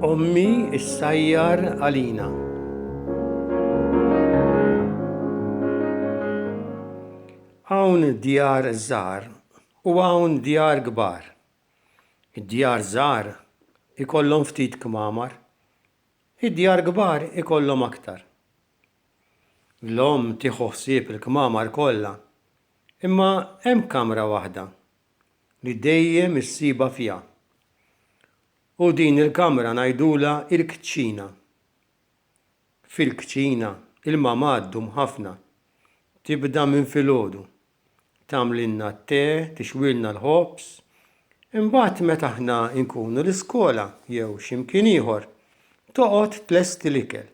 Ommi issajjar għalina. Hawn djar żgħar u hawn djar kbar. Id-djar żgħar ikollhom ftit kmamar, id-djar kbar ikollhom aktar. l-omm tieħu ħsieb il-kmamar kollha, imma hemm kamra waħda li dejjem issibha fiha. U din il-kamra ngħidulha l-kċina. Fil-kċina il-mama ddum ħafna. Tibda minn filgħodu. Tagħmlilna t-te, tixwilna l-ħobż. Imbagħad meta aħna nkunu l-iskola jew x'imkien ieħor, toqgħod tlesti l-ikel.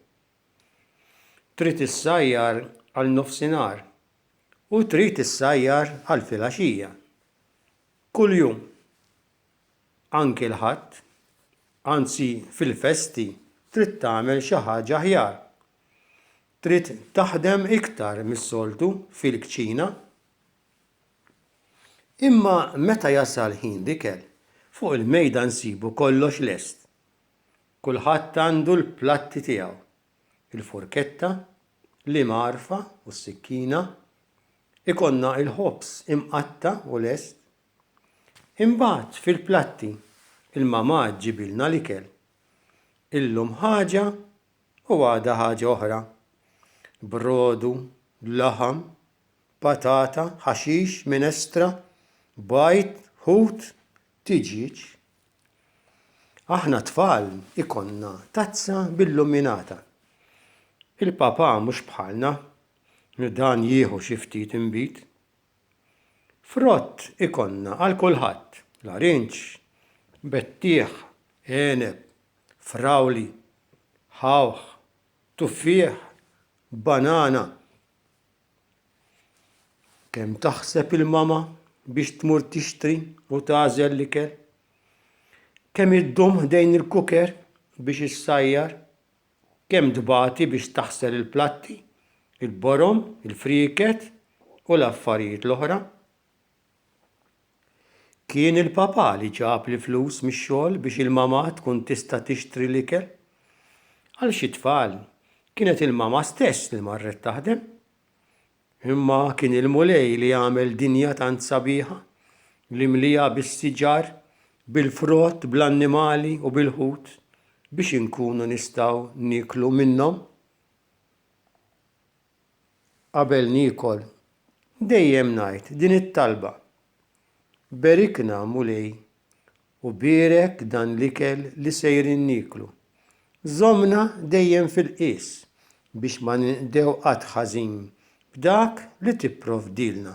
Trid issajjar għal nofsinhar u trid issajjar għal filgħaxija. Kuljum. Anki l-Ħadd. Anzi fil-festi trid tagħmel xi ħaġa aħjar. Trid taħdem iktar mis-soltu fil-kċina. Imma meta jasal ħin l-ikel, fuq il-mejda nsibu kollox lest. Kulħadd għandu l-platti tiegħu, il-furketta, l-imgħarfa u s-sikkina, ikollna il-ħobż imqatta' u lest. Imbagħad fil-platti il-mamà ġġibilna l-ikel. Illum ħaġa u għada ħaġa oħra. Brodu, laħam, patata, ħaxix, minestra, bajd, ħut, tiġieġ. Aħna t-tfal ikollna tazza billuminata. Il-Papà mhux bħalna li dan jieħu xi ftit inbid. Frott ikollna għal kulħadd, larinġ, bettieħ, għeneb, frawli, ħawħ, tuffieħ, banana, Kemm taħseb il-mama biex tmur tixtri u tagħżel l-ikel? Kemm iddum ħdejn il-kuker biex issajjar? Kemm tbati biex taħsel il-platti, il-borom, il-frieket u l-affarijiet l-oħra? Kien il-papà li ġab l-flus mix-xogħol biex il-mamà tkun tista' tixtri l-ikel. Għal xi tfal, kienet il-mamà stess li marret taħdem. Imma kien il-Mulej li għamel dinja tant sabiħa, li mlieha bis-siġar, bil-frott, bl-annimali u bil-ħut, biex inkunu nistgħu nieklu minnhom. qabel niekol, dejjem ngħid din it-talba, Berikna, Mulej, u bierek dan l-ikel li sejrin nieklu. Żommna dejjem fil-qies biex ma ninqdew qatt ħażin b'dak li tipprovdilna.